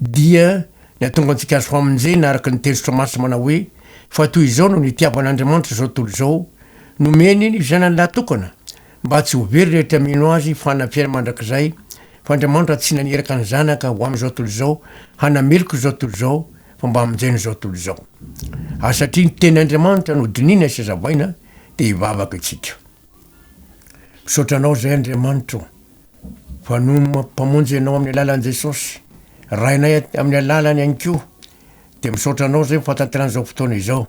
Dia ny hahatonga antsika azo famonjena araka ny teny Soramaso manao hoe, Fa toy izao no nitiavan'Andriamanitra izao tontolo izao, nomeny ny Zanany lahatokana, mba tsy ho very rehetra mino Azy fanafihana mandrakizay, fa Andriamanitra tsy naniraka ny Zanaka ho amin'izao tontolo izao hanameloka izao tontolo izao, fa mba hamonjena izao tontolo izao. Ary satria ny tenin'Andriamanitra no dinihina sy hazavaina, dia hivavaka isika. Misaotra Anao izay Andriamanitra o, fa noma Mpamonjy Ianao amin'ny alalan'i Jesosy, Rainay amin'ny alalany ihany koa, dia misaotra Anao izay fahatanterana izao fotoana izao,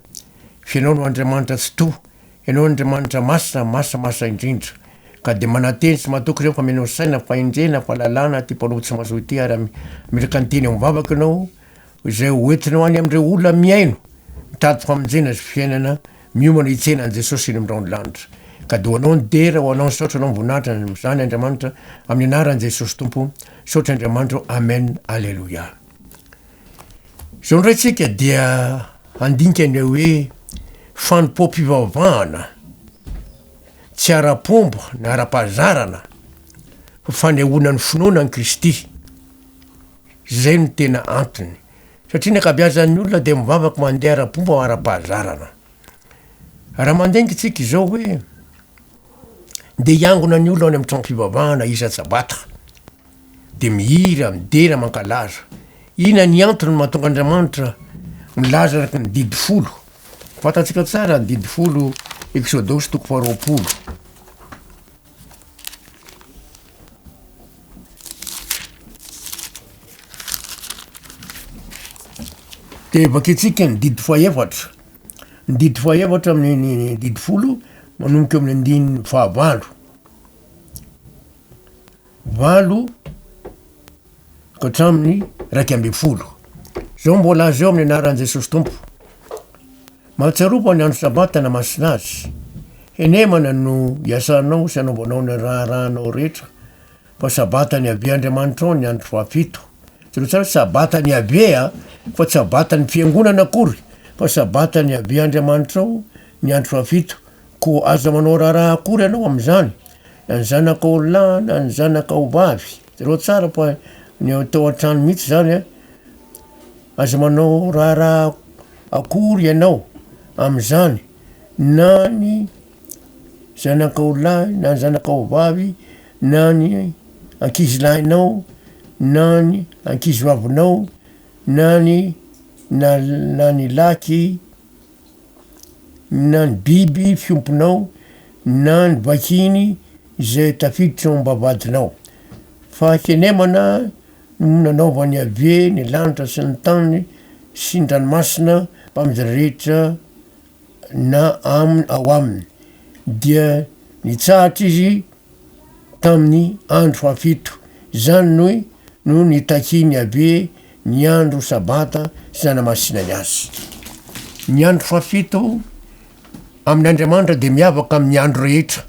fa Ianao no Andriamanitra Tsitoha, Ianao no Andriamanitra Masina, Masina, Masina indrindra. Ka dia mananteny sy matoky ireo fameno saina, fahendrena, fahalalana, ity Mpanompo tsy mazoa ity ary ametraka ny teny amin'ny vavako Ianao, izay hoentina ho any amin'ireo olona mihaino, mitady famonjena sy fiainana, miomana hitsena an'i Jesosy eny amin'ny rahon'ny lanitra. Cadeau ho anao ny dera ho anao ny saotra anao mivonahitra amin'izany Andriamanitra amin'ny anaran'i Jesosy Tompo, misaotra Andriamanitra ô Amen Aleloia. Izao indray tsika dia handinika ny hoe fanompoam-pivavahana tsy ara-pomba na ara-pahazarana fa fanehoana ny finoana an'i Kristy. Izay no tena antony. Satria ny ankabeazan'ny olona dia mivavaka mandeha ara-pomba ara-pahazarana. Raha mandeha ny tsika izao hoe, ndeha hiangona ny olona any amin'ny trano-pivavahana isan-tsabata, dia mihira, midera, mankalaza. Inona ny antony mahatonga Andriamanitra milaza araka ny didy folo? Fantatsika tsara ny didy folo, Eksodosy toko faharoapolo. Dia vakintsika ny didy fahefatra. Ny didy fahefatra amin'ny didy folo manomboka eo amin'ny andininy fahavalo. Valo ka hatramin'ny iraika ambin'ny folo. Zao mbola azy eo amin'ny anaran'i Jesosy Tompo. Mahatsiaro fa ny andro Sabata namasina azy. Henemana no iasanao sy anaovanao ny raharahanao rehetra, fa Sabata an'i Yaveh Andriamanitrao ny andro fahafito. Jereo tsara, Sabata an'i Yaveh a, fa tsy Sabata ny fiangonana akory, fa Sabata an'i Yaveh Andriamanitrao ny andro fahafito. Koa aza manao raharaha akory ianao amin'izany, na ny zanakao lahy na ny zanakao vavy. Jereo tsara fa ny tao an-trano mihitsy izany a. Aza manao raharaha akory ianao amin'izany na ny zanakao lahy na ny zanakao vavy na ny ankizilahinao na ny ankizivavinao na ny na- na ny lahiky na ny biby fiompinao na ny vakiny zay tafiditra ao am-bavahadinao. Fahakenemana. no nanaovan'i Iaveh ny lanitra sy ny tany sy ny ranomasina mpaminjira rehetra na aminy ao aminy, dia nitsahatra izy tamin'ny andro fahafito. Izany no no nitakian'i Iaveh ny andro sabata sy nanamasinany azy. Ny andro fahafito amin'Andriamanitra dia miavaka amin'ny andro rehetra.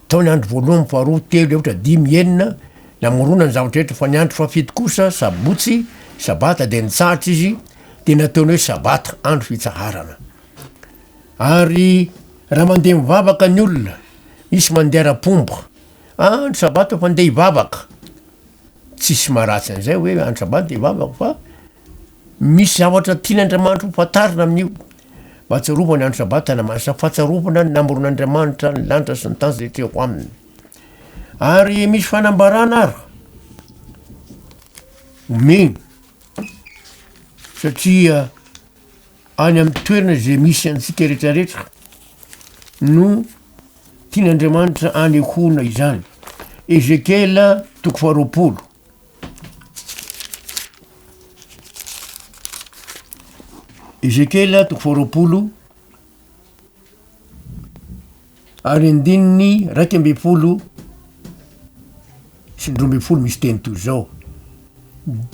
Tao ny andro voalohany, faharoa, telo, efatra, dimy, enina, namorona ny zavatra rehetra, fa ny andro fahafito kosa, sabotsy, sabata, dia nitsahatra izy, dia nataony hoe sabata, andro fitsaharana. Ary raha mandeha mivavaka ny olona, misy mandeha ara-pomba, andro sabata fa ndeha hivavaka, tsisy maha ratsy an'izay hoe andro sabata ndeha hivavaka fa, Misy zavatra tian'Andriamanitra hofantarina amin'io. Mahatsiarovana ny andro Sabata na manasa fahatsiarovana ny namoron'Andriamanitra ny lanitra sy ny tany izay teo aminy. Ary misy fanambarana ary omeny satria any amin'ny toerana izay misy antsika rehetrarehetra no tian'Andriamanitra anehoana izany. Ezekiela toko faharoapolo. Ezekiela toko faharoapolo ary andininy raika ambin'ny folo sy ny roa ambin'ny folo misy teny toy izao,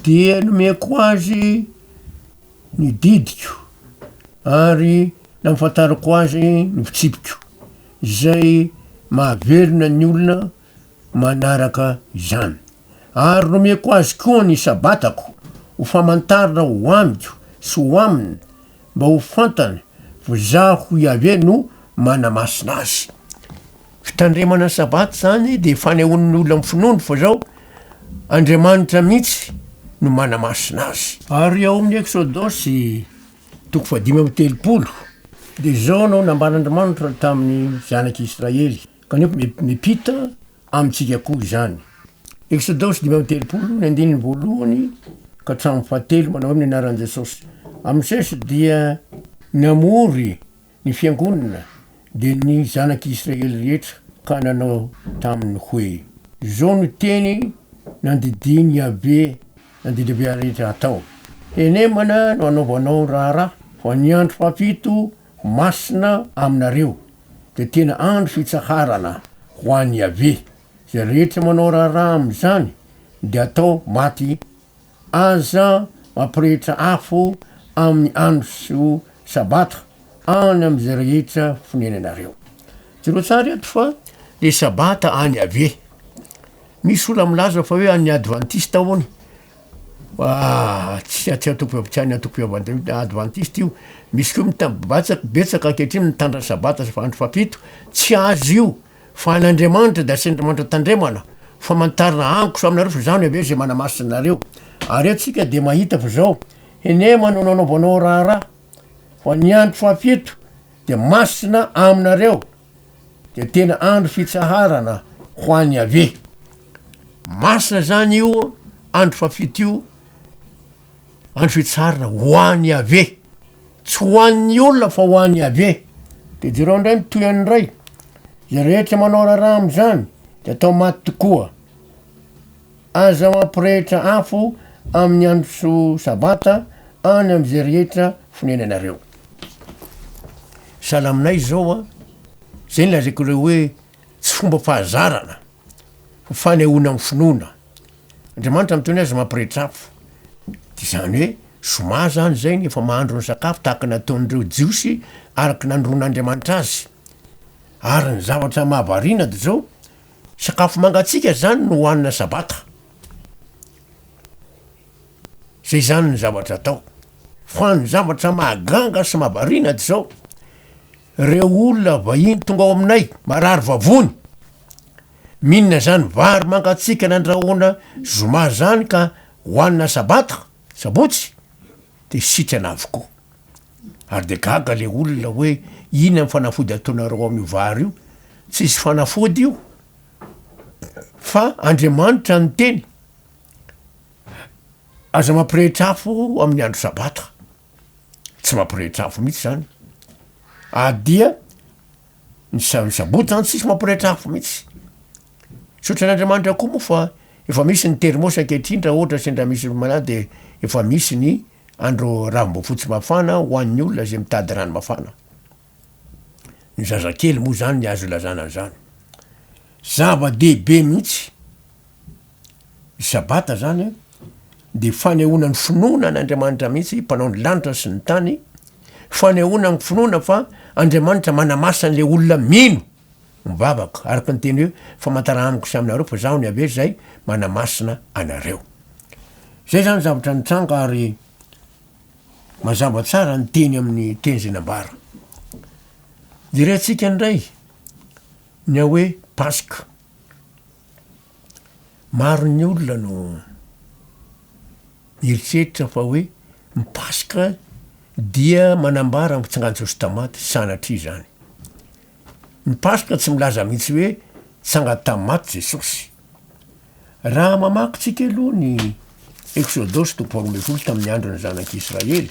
dia nomeko azy ny didiko ary nahafantarako azy ny fitsipiko, izay mahavelona ny olona manaraka izany. Ary nomeko azy koa ny Sabatako ho famantarana ho amiko sy ho aminy, mba ho fantany fa zaho Iaveh no manamasina azy. Fitandremana ny Sabata izany dia fanehoan'ny olona amin'ny finoany fa izao Andriamanitra mihitsy no manamasina azy. Ary ao amin'ny Eksodosy toko fahadimy amby telopolo dia izao no nambaran'Andriamanitra tamin'ny zanak'Israely, Kanefa mety mipita amintsika koa izany. Eksodosy dimy amby telopolo, ny andininy voalohany ka hatramin'ny fahatelo, manao hoe amin'ny anaran'i Jesosy. A Mosesy dia namory ny fiangonana, dia ny zanak'i Israely rehetra, ka nanao taminy hoe, Izao no teny nandidian'i Yaveh, na didy Yaveh rehetra hatao, Henemana no hanaovanao ny raharaha, fa ny andro fahafito Masina aminareo, dia tena andro fitsaharana ho an'i Iaveh. Izay rehetra manao raharaha amin'izany, dia atao maty. Aza mampirehitra afo amin'ny andro sabata any amin'izay rehetra fonenanareo. Jereo tsara eto fa le sabata an'i Iaveh. Misy olona milaza fa hoe an'ny advantista hono Aa tsy atsy antoko tsy any antoko fiavan-dry advantista io, misy koa mitam-batsa betsaka ankehitriny mitandrina sabata sy fa andro fahafito, tsy azy io fa an'Andriamanitra de asian'Andriamanitra tandremana, famantarana agniko samy nareo fa zany ave ze manamasina anareo, are tsika de mahita fa zao hene manao nanaovanao raharaha fa ny andro fahafito de masina aminareo. dia tena andro fitsaharana ho an'i Yaveh. Masina zany io andro fafito io, andro fitsaharana ho an'i Yaveh. Tsy ho an'ny olona fa ho an'i Yaveh. Dia jereo indray ny tohiny indray. Izay rehetra manao raharaha amin'izany dia atao maty tokoa. Aza mampirehitra afo amin'ny andro sabata any amin'izay rehetra fonenanareo. Sahala aminay izao an, izay no lazaiko anareo hoe tsy fomba fahazarana fa fanehoana amin'ny finoana. Andriamanitra miteny hoe aza mampirehitra afo, dia izany hoe zoma izany izay ny efa mahandro ny sakafo tahaka ny nataon'ireo Jiosy araka ny nanoroan'Andriamanitra azy. Ary ny zavatra mahavariana dia izao, Sakafo mangatsiaka izany no hohanina sabata. Zay izany ny zavatra atao. Fa ny zavatra mahaganga sy mahavariana dia izao, ireo olona vahiny tonga ao aminay marary vavony, mihinana izany vary mangatsiaka nandrahoana zoma izany ka hohanina sabata, sabotsy. Dia sitrana avokoa. Ary dia gaga ilay olona hoe inona ny fanafody ataonareo amin'io vary io? Tsisy fanafody io fa Andriamanitra no niteny. Aza mampirehitra afo amin'ny andro sabata. Tsy mampirehitra afo mihitsy izany. Ary dia ny sabotsy zany tsisy mampirehetra afo mihitsy, misaotra an'Andriamanitra koa moa fa efa misy ny termos ankehitriny raha ohatra sendra misy olo malady de efa misy ny andro ranom-boafotsy mafana ho an'ny olona zay mitady rano mafana, ny zazakely moa zany ny azo ilazana an'zany, zava-dehibe mihitsy. Ny sabata zany a de fanehoana ny finoana an' Andriamanitra mihitsy mpanao ny lanitra sy ny tany, fanehoana ny finoana fa Andriamanitra manamasa an'le olona mino, mivavaka, araka ny teny hoe famantara amiko sy aminareo fa zaho ny Yaveh zay manamasina anareo. Zay zany zavatra nitranga ary mazava tsara ny teny amin'ny teny zay nambara. Jerentsika ndray ny hoe paska, Maro ny olona no mieritreritra fa hoe ny paska dia manambara ny fitsangan'i Jesosy tamaty, sanatria izany. Ny paska tsy milaza mihitsy hoe tsanga tamaty Jesosy. Raha mamaky tsika aloha ny Eksodosy toko faharoa ambin'ny folo tamin'ny andron'ny zanak'Israely,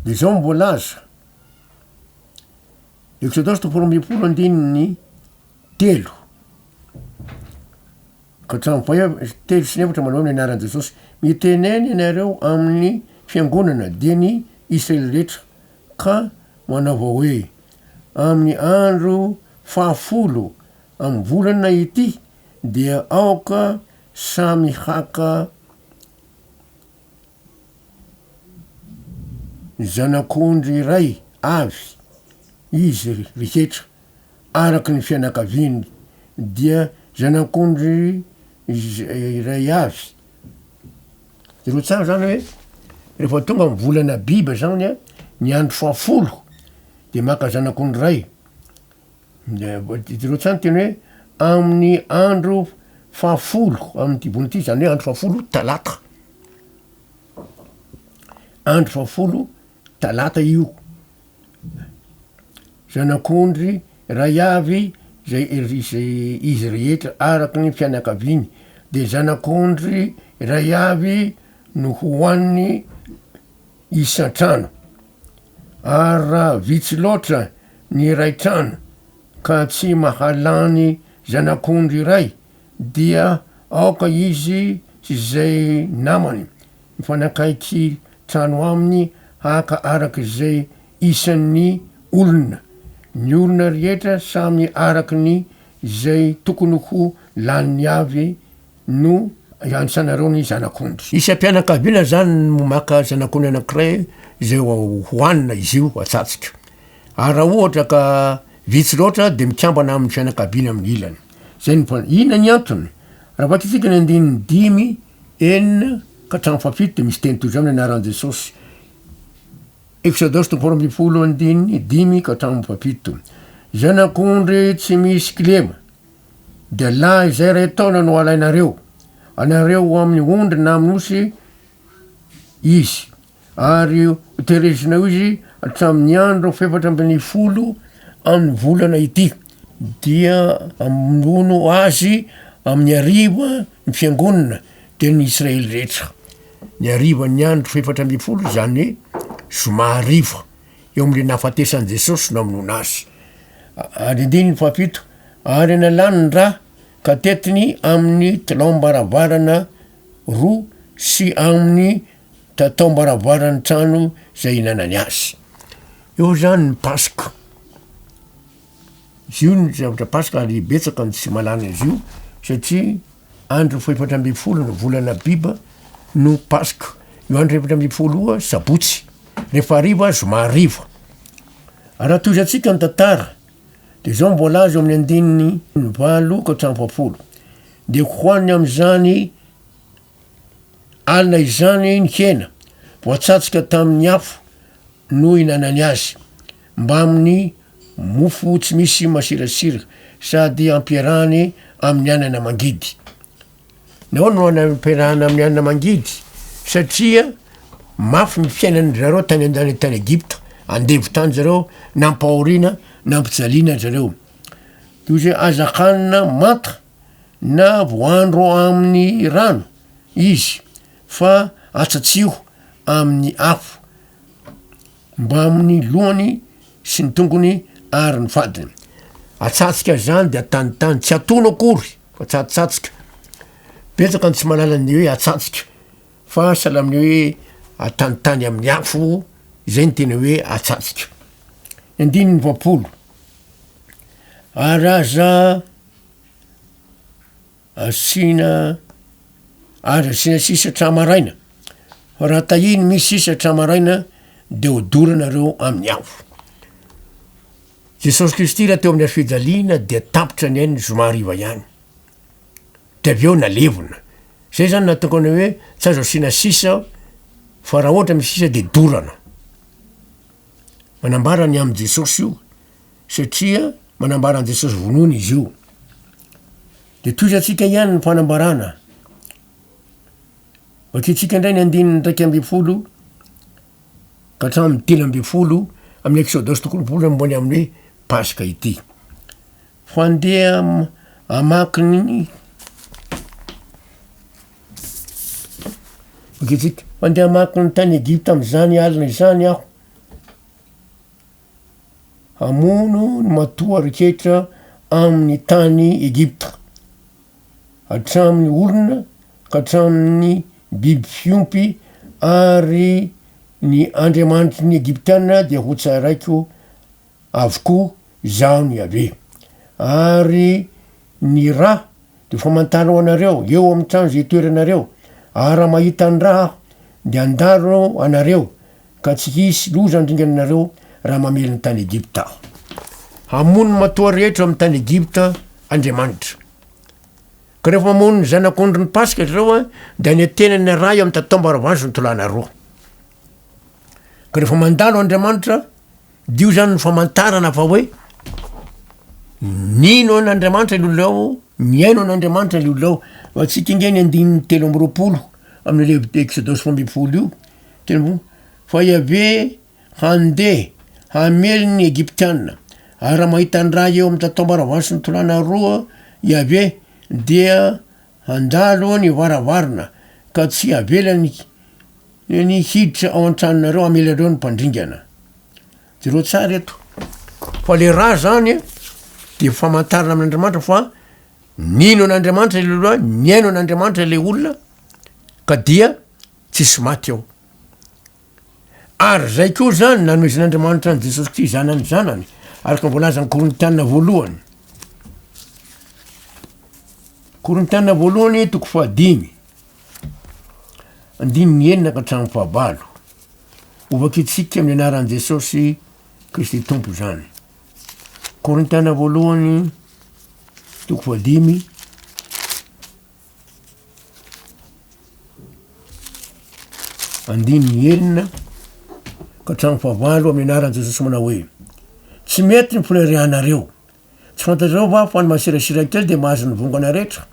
De zao ny voalaza, Exodosy toko faharoa ambin'ny folo andininy telo ka hatramin'ny faha ef- telo sy efatra manao ny anaran'i Jesosy, mitenena ianareo amin'ny fiangonana, dia ny Israely rehetra, ka manaova hoe, amin'ny andro fahafolo amin'ny volana ity dia aoka samy haka zanak'ondry iray avy izy rehetra araka ny fianakaviany, dia zanak'ondry iray avy. Ireo tsara zany hoe rehefa tonga ny volana Abiba zany a, ny andro fahafolo de maka zanako ny ray, jereo tsara ny teny hoe amin'ny andro fahafolo amin'ity volana ity, zany hoe andro fahafolo talata, andro fahafolo. Talata io. Zanak'ondry iray avy izay izay izy rehetra araka ny fianakaviany, dia zanak'ondry iray avy no ho an'ny isan-trano. Ary raha vitsy loatra ny iray trano ka tsy mahalany zanak'ondry iray, dia aoka izy sy izay namany, Mifanakaiky trano aminy haka araka izay isan'ny olona. Ny olona rehetra samy araka ny izay tokony ho laniny avy no ianisanareo ny zanak'ondry. Isam-pianakaviana izany no maka zanak'ondry anankiray izay hohanina izy io atsatsika. Ary raha ohatra ka vitsy loatra dia mikambana amin'ny fianakaviana amin'ny ilany. Izay ny voalazany. Inona ny antony? Raha vakitsika ny andininy dimy. enina ka hatramin'ny fahafito dia misy teny toy izao ny anaran'i Jesosy. Exodosy toko faharoa ambin'ny folo andininy dimy ka hatramin'ny fahafito. Zanak'ondry tsy misy kilema, dia lahy izay iray taona no alainareo, anareo ho amin'ny ondry na amin'ny osy izy, ary ho terezina eo izy hatramin'ny andro fahefatra ambin'ny folo amin'ny volana ity, dia hamono azy amin'ny hariva ny fiangonana dia ny Israely rehetra. Ny harivan'ny andro fahefatra ambin'ny folo izany zoma hariva eo amin'ilay nahafatesan'i Jesosy no hamonoana azy. Ary andininy fahafito, ary nalany ny rà ka tetiny amin'ny taloham-baravarana roa sy amin'ny tao am-baravaran'ny trano izay inanany azy. Eo izany ny Paska. Izy io ny zavatra Paska ary betsaka ny tsy malana izy io satria andro fahefatra ambin'ny folo ny volana Abiba no Paska. Io andro efatra ambin'ny folo Sabotsy. Rehefa hariva zoma hariva. Raha tohizantsika ny tantara dia izao no voalaza amin'ny andininy valo ka hatramin'ny fahafolo. Dia hohaniny amin'izany alina izany ny hena voatsatsika tamin'ny afo no ihinanany azy, mbamin'ny mofo tsy misy masirasira sady ampiarahany amin'ny anana mangidy. Nahoana no anana ampiarahana amin'ny anana mangidy? Satria mafy ny fiainan'ny zareo tany an-dany tany Egypta, andevo tany zareo, nampahoriana, nampijaliana zareo. Toy izay azakanina manta na voandro amin'ny rano izy, fa atsatsiho amin'ny afo mbamin'ny lohany sy ny tongony ary ny fadiny. Atsatsika izany dia tanitany, tsy atono akory fa tsatsatsika. Betsaka ny tsy malala ny hoe atsatsika fa sahala amin'ny hoe atanitany amin'ny afo, izay ny tena hoe atsatsika. Ny andininy roapolo, ary aza asiana aza asiana sisa hatramin'ny maraina fa raha tahiny misy sisa hatramin'ny maraina de hodoranareoo amin'ny afo. Jesosy Kristy raha teo amin'ny hazo fijaliana dia tapitra ny ainy ny zoma hariva ihany, de avy eo nalevina, zay zany nahatongany hoe tsy azo asiana sisa fa raha ohatra misy sisa de dorana, manambara ny amin'i Jesosy io. satria manambara an'i Jesosy vonoina izy io. Dia tohizantsika ihany ny fanambarana. Vakintsika indray ny andininy iraika ambin'ny folo ka hatramin'ny dimy ambin'ny folo amin'ny Exodosy toko roapolo amby roapolo amin'ny hoe Paska ity. Fandeha hamaky ny vakintsika. Fandeha hamaky ny tany Egypta amin'izany alina izany aho. hamono ny matoa rehetra amin'ny tany Egypta, hatramin'ny olona ka hatramin'ny biby fiompy, ary ny andriamanitry ny Egyptiana dia hotsaraiko avokoa, izaho ny Yaveh. Ary ny ra dia famantara ho anareo eo amin'ny trano izay itoeranareo, ary raha mahita ny ra aho dia handalo anareo, Ka tsy hisy loza handringana anareo raha mamely ny tany Egypta Aho. Hamono ny matoa rehetra ao amin'ny tany Egypta Andriamanitra. Ka rehefa mamono ny zanak'ondry ny Paska ianareo, dia any an-tenany arahy amin'ny tataom-baravazo ny tolànareo. Ka rehefa mandalo Andriamanitra, dia io zany ny famantarana fa hoe nino an'Andriamanitra ny olona ao, mihaino an'Andriamanitra ny olona ao. Ho antsika ange ny andininy telo amby roapolo amin'ilay Exodosy roa ambin'ny folo io. Telo, Fa Iaveh handeha hamely ny Egyptiana, ary raha mahita an-dra eo amin'ny tataom-baravarana sy ny tolàna roa Iaveh, dia handalo ny varavarana ka tsy havelany ny hiditra ao an-tranonareo hamely anareo ny mpandringana. Jereo tsara eto. Fa le ra zany dia famantarana amin'Andriamanitra fa nino an'Andriamanitra le lehilahy, nihaino an'Andriamanitra le olona ka dia Tsisy maty ao. Ary zay koa zany nanohizan'Andriamanitra an'i Jesosy Kristy zanany zanany, araka ny voalazan'ny Korintiana voalohany. Korintiana voalohany toko fahadimy. Andininy enina ka hatramin'ny fahavalo. Hovakitsika amin'ny anaran'i Jesosy Kristy Tompo zany. Korintiana voalohany toko fahadimy Andininy enina ka hatramin'ny fahavalo amin'ny anaran'i Jesosy manao hoe, Tsy mety ny fanirianareo. Tsy fantatrareo va fa ny masirasira kely dia mahazo ny vongana rehetra?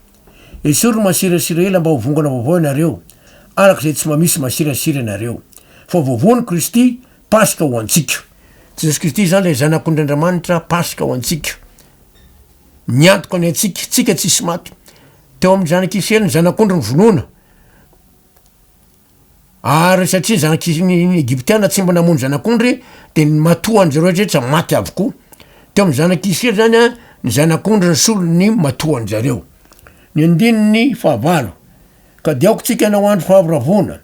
Esory ny masirasira ela mba ho vongana vaovao ianareo, araka izay tsy mba misy masirasira ianareo. Fa voavoan'i Kristy, Paska ho antsika. Jesosy Kristy izany ilay Zanak'ondry Andriamanitra, Paska ho antsika. Ny antoka ny antsika, tsika tsisy maty. Teo amin'ny zanak'Israely ny zanak'ondry nivonoana, ary satria ny zanak'Is- ny ny Egyptiana tsy mba namono zanak'ondry de ny matoa an'zay rehetra rehetra maty avokoa. Teo amin'ny zanak'Israely zany a ny zanak'ondry ny solon'ny matoa an-jareo. Ny andininy fahavalo, ka de aoka tsika hanao andro fahavoravoana.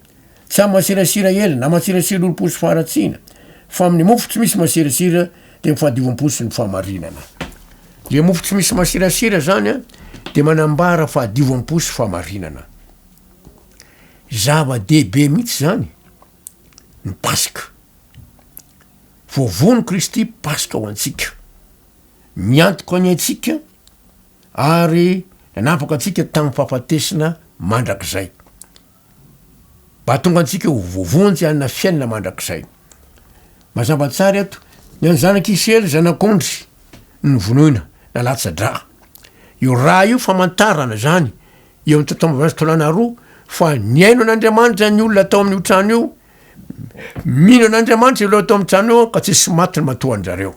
Tsy amin'ny masirasira ela na masirasira olom-po sy faharatsiana, fa amin'ny mofo tsy misy masirasira dia ny fahadiovam-po sy ny fahamarinana. Ilay mofo tsy misy masirasira izany dia manambara fahadiovam-po sy fahamarinana. Zava-dehibe mihitsy izany ny Paska. Voavono Kristy Paska ho antsika. Miantoka ny antsika ary nanapaka antsika tamin'ny fahafatesana mandrakizay. Ahatonga antsika ho voavonjy hanana fiainana mandrakizay. Mazava tsara eto, ny an'ny zanak'i Isiraely, zanak'ondry, no novonoina, na latsa-drà. Io rà io famantarana izany, eo amin'ny taotao ambin'ny folo sy taolana roa, fa nihaino an'Andriamanitra ny olona tao amin'io trano io, mino an'Andriamanitra ireo tao amin'ny trano io, ka tsy nisy maty ny matoa an-dry zareo.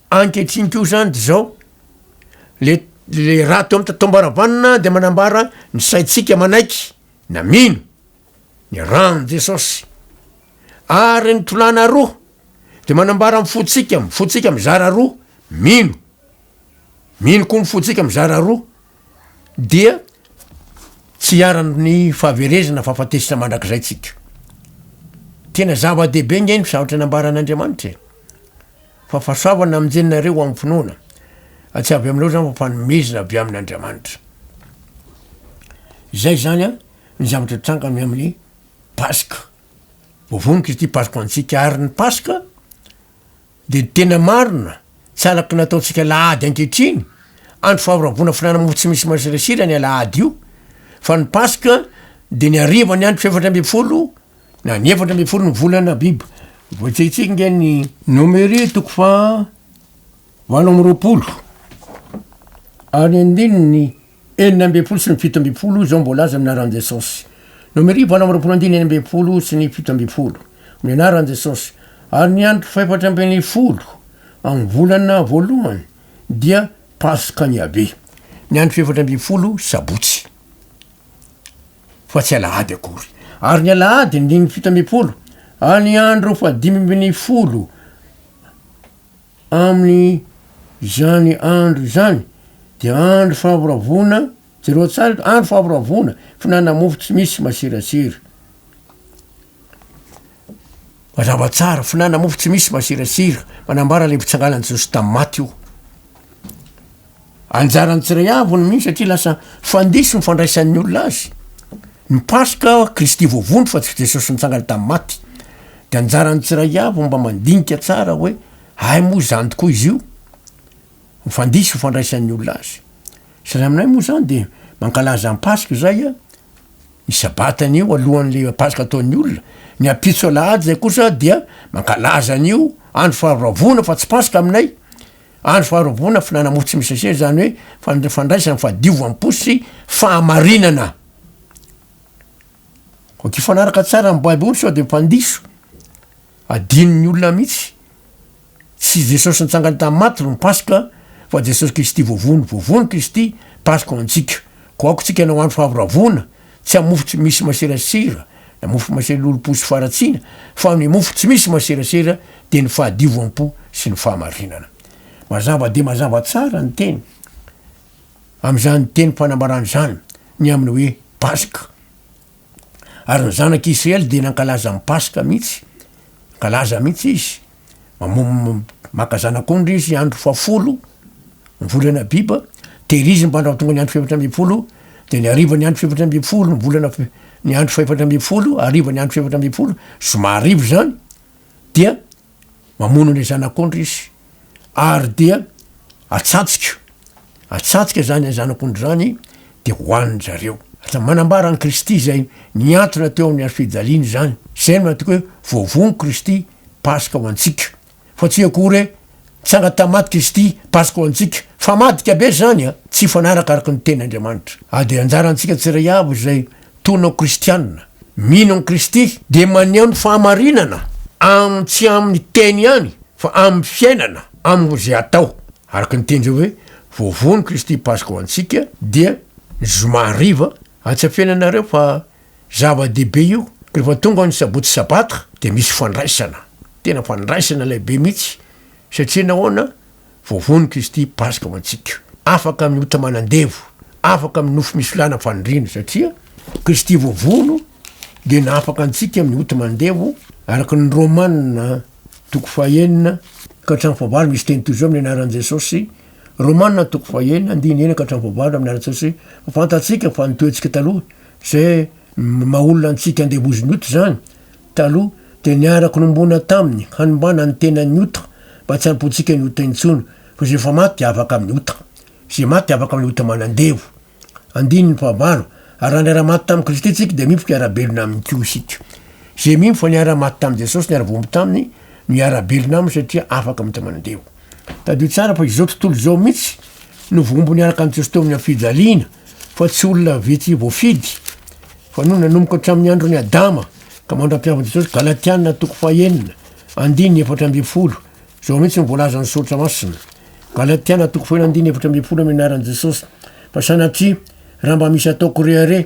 Ankehitriny koa izany dia izao, le raha teo amin'ny tatomboaravanona dia manambara ny saintsika manaiky na mino ny rano Jesosy. Ary ny tolana roa dia manambara ny fotsika, ny fotsika mizara roa, mino. Mino koa ny fotsika mizara roa dia tsy hiaran'ny fahaverezana fahafatesana mandrakizay tsika. Tena zava-dehibe nge ny zavatra nambaran'Andriamanitra e. Fahafasoavana aminjiny nareo amin'ny finoana, fa tsy avy aminareo izany fa fanomezana avy amin' Andriamanitra. Izay izany an, ny zavatra nitranga ny amin'ny Paska. Voavono Kristy Paska ho antsika, ary ny Paska dia ny tena marina, tsy araky ny ataontsika alahady ankehitriny, andro faharavona fihinanana mofo tsy misy masirasira ny alahady io, fa ny Paska dia ny harivan'ny andro fahefatra ambin'ny folo, Na ny efatra ambin'ny folo ny volana Abiba. Voatsehitsehiko nge ny nomery toko faha valo amby roapolo ary andininy enina ambin'ny folo sy ny fito ambin'ny folo izao mbola aza minaran'i Jesosy. Nomery valo amby roapolo andininy enina ambin'ny folo sy ny fito ambin'ny folo. Minaran'i Jesosy. Ary ny andro fahefatra ambin'ny folo amin'ny volana voalohany dia Paska an'i Yaveh. Ny andro fahefatra ambin'ny folo sabotsy. fa tsy alahady akory, ary ny alahady ny dimy fito ambin'ny folo, ary ny andro fahadimy ambin'ny folo amin' izany andro izany dia andro fahavoravoana, jereo tsara eto, andro fahavoravoana, fihinanana mofo tsy misy masirasira. Mazava tsara, fihinanana mofo tsy misy masirasira, manambara ilay fitsanganan'i Jesosy tamin'ny maty io. Anjaran'ny tsiraiavy avy ny mino satria lasa fandiso ny fandraisan'ny olona azy. Ny paska, Kristy voavondro fa tsy Jesosy nitsangana tamin'ny maty. Dia anjaran'ny tsiray avy ny mba mandinika tsara hoe hay moa izany tokoa izy io? Ny fandiso ny fandraisan'ny olona azy. Sary aminay moa izany dia mankalaza ny paska izay an, ny sabata anio alohan'ilay paska ataon'ny olona, ny ampitso alahady izay kosa dia mankalaza an'io andro faharavoana fa tsy paska aminay. Andro faharoboana, Filana-mofo tsy misy sachet, izany hoe fand, fandraisana, fadiovam-po sy fahamarinana. Ok, hifanaraka tsara amin'ny Baiboly sao dia mpandiso. Adinon'ny olona mihitsy. Tsy Jesosy nitsangana tamin'ny maty no Paska, fa Jesosy Kristy voavono. Voavono Kristy, Paska ho antsika. Koa aoka tsika hanao andro fahavoravona. Tsy amin'ny mofo tsy misy maserasera na mofo masera lolompo sy faharatsiana, fa ny mofo tsy misy maserasera dia ny fahadiovam-po sy ny fahamarinana. Mazava dia mazava tsara ny teny amin'izany tenim-panambarana izany ny amin'ny hoe Paska. Ary ny zanak'i Israely dia nankalaza ny Paska mihitsy, nankalaza mihitsy izy. Mamom- maka zanak'ondry izy andro fahafolo ny volana Abiba, tehiriziny mba andraho tonga ny andro fahefatra ambin'ny folo, de ny harivan'ny andro fahefatra ambin'ny folo ny volana f- ny andro fahefatra ambin'ny folo, harivan'ny andro fahefatra ambin'ny folo, zoma hariva zany, dia mamono an'le zanak'ondry izy, ary dia atsatsika, atsatsika zany zanak'ondry zany de hohanin-dry zareo. Lasa manambara an'i Kristy zay niantona teo amin'ny hazofijaliany zany, zay no antoko hoe voavono Kristy. Paska ho antsika. Fa tsy akory e! Tsanga tamaty Kristy, Paska ho antsika. Fa madika be zany a! Tsy hifanaraka araka ny teny Andriamanitra. Ady e! Anjara antsika tsiray avy izay tono kristiana, mino an'i Kristy, dia maneho ny fahamarinana am tsy amin'ny teny ihany fa amin'ny fiainana, amin'ny ze atao. Araka ny teny zay hoe, Voavono Kristy Paska ho antsika dia ny zoma hariva, atsafenanareo fa Zava-dehibe io, rehefa tonga ny sabotsy sabata dia misy fandraisana, tena fandraisana lehibe mihitsy, satria nahoana, vao voan'i Kristy Paska ho antsika. Afaka amin'ny ota manan-devo, afaka amin'ny nofo misy lana faniriana, satria Kristy vao vono dia nahafaka antsika amin'ny ota manan-devo, araka ny Romana toko fahenina ka hatramin'ny fahavalo, misy teny toy izao amin'ny anaran'i Jesosy, Romana toko fahenina andininy enina ka hatramin'ny fahavalo amin'ny anaran'i Jesosy, fa fantatsika fa ny toetsika taloha Ze ny maha olona antsika andevozin'ny ota izany, taloha dia niarako nombona taminy hanombana ny tenan'ny ota mba tsy hampoantsika ny ota intsony fa ze efa maty dia afaka amin'ny ota. Ze maty afaka amin'ny ota manandevo. Andininy fahavalo, ary raha niara-maty tamin'i Kristy isika dia mimpoka hiara-belona aminy koa isika. Ze mino fa niara-maty tamin'i Jesosy niara-voaomby taminy no hiara-belona aminy satria afaka amin'ny ota manandevo. Tadidio tsara fa izao tontolo izao mihitsy no voambo niaraka an'i Jesoa teo amin'ny hafijaliana fa tsy olona vitsy voafidy fa no nanomboka hatramin'ny andron'i Adama ka mandra-piavin'i Jesosy, Galatiana toko fahenina andininy efatra ambin'ny folo, izao mihitsy no voalazan'ny Soratra Masina, Galatiana toko fahenina andininy efatra ambin'ny folo amin'ny anaran'i Jesosy, fa sanatria raha mba misy ataoko re are,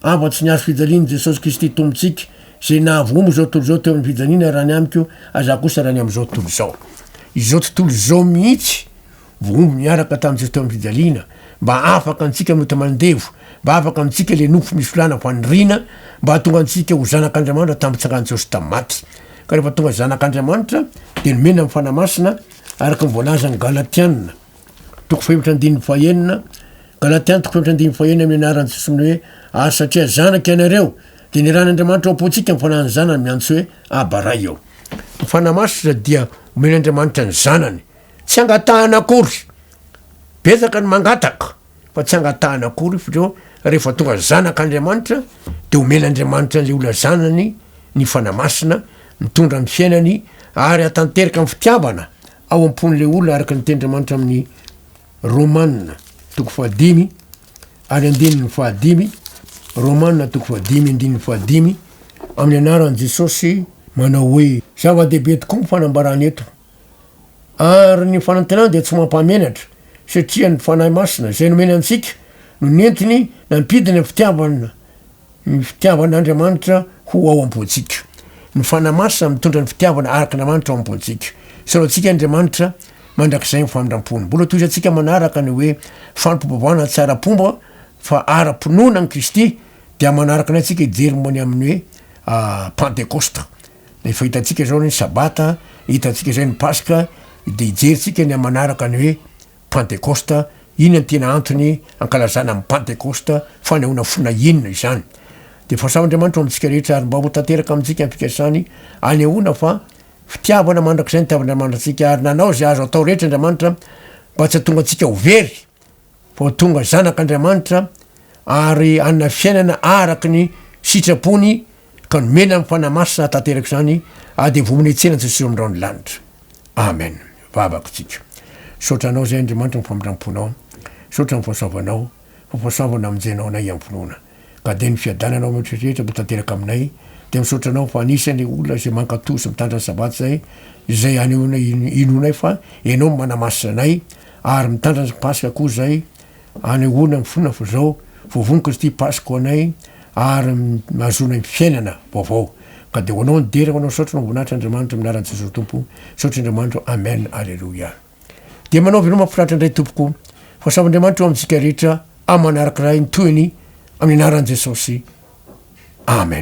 Avo atsy ny hazo fijalian'i Jesosy Kristy Tompontsika, izay nahavoaombo izao tontolo izao teo amin'ny fijaliana raha ny amiko, aza kosa raha ny amin'izao tontolo izao. Izao tontolo izao mihitsy voaombo niaraka tamin'i Jesosy teo amin'ny fijaliana, mba afaka antsika mety mandevo, mba afaka amintsika ilay nofo misy filàna ho an'ny rina, mba hahatonga antsika ho zanak'Andriamanitra tamin'ny fitsangan'i Jesosy tamin'ny maty. Ka rehefa tonga zanak'Andriamanitra, dia nomena ny Fanahy Masina, araka ny voalazan'ny Galatiana. Toko fahefatra andininy fahenina, Galatiana toko fahefatra andininy fahenina amin'ny anaran'i Jesosy ny hoe ary satria zanaka ianareo dia nirahan'Andriamanitra ao am-pontsika ny fanahin'ny zanany miantso hoe Aba Ray eo. Ny fanahy masina dia omen'Andriamanitra ny zanany. Tsy angatahana akory. Betsaka ny mangataka fa tsy angatahana akory f'reo rehefa tonga zanak'Andriamanitra dia omen'Andriamanitra an'ilay olona zanany ny fanahy masina mitondra ny fiainany ary atanteraka amin'ny fitiavana ao am-pon'ilay olona araka ny tenin'Andriamanitra amin'ny Romana toko fahadimy ary andininy fahadimy, Romana toko fahadimy andininy fahadimy, amin'ny anaran'i Jesosy manao hoe zava-dehibe tokoa ny fanambarana eto. Ary ny fanantenana dia tsy mampamenatra, satria ny Fanahy Masina izay nomena antsika no nentiny nampidina fitiavana Ny fitiavan'Andriamanitra ho ao am-pontsika. Ny Fanahy Masina mitondra ny fitiavana arak'Andriamanitra ao am-pontsika. Solaotsika Andriamanitra mandrakizay ny famindrampony. Mbola tohizantsika manaraka ny hoe fampibavahana tsy ara-pomba fa ara-pinoana an'i Kristy dia manaraka anay tsika hijery momba ny amin'ny hoe Pantekosta. Efa hitantsika izao ny Sabata, hitantsika izay ny Paska, dia hijery tsika ny manaraka ny hoe Pantekosta, Inona no tena antony ankalazana ny Pantekosta? Fanehoana fona inona izany? Dia fahasavan'Andriamanitra ho amintsika rehetra ary mba ho tanteraka amintsika ny fikasany hanehoana fa fitiavana mandrakizay ny tiavan'Andriamanitra antsika ary nanao izay azo atao rehetra Andriamanitra mba tsy hahatonga antsika ho very fa ho tonga zanak'Andriamanitra ary hanana fiainana araka ny sitrapony ka nomena ny fanahy masina hahatanteraka izany ady hivonona hitsena an'i Jesosy amin'irao ny lanitra. Amen. Vavaka isika. Misaotra Anao izay Andriamanitra amin'ny famindram-ponao. Misaotra amin'ny fahasoavanao, fa voasoavana hamonjenao anay amin'ny finoana. Ka dia ny fiadananao amin'ny rehetra rehetra mba tanteraka aminay, dia misaotra Anao fa anisan'ny olona izay mankatò sy mitandrina ny Sabata izay, izay hanehoana inoanay fa Ianao no manamasina anay, ary mitandrina ny Paska koa izay, Hanehoana ny finoana fa izao vao voniko ity Pasko anay ary ahazoanay ny fiainana vaovao. Ka dia ho anao ny dera, ho anao ny saotra, Voninahitra Andriamanitra amin'ny anaran'i Jesosy Tompo, Saotra Andriamanitro, Amen, Aleloia. Dia manao veloma mafinaritra indray tompoko, fa samy Andriamanitra eo amintsika rehetra aman'araka iray ny tohiny amin'ny anaran'i Jesosy, Amen.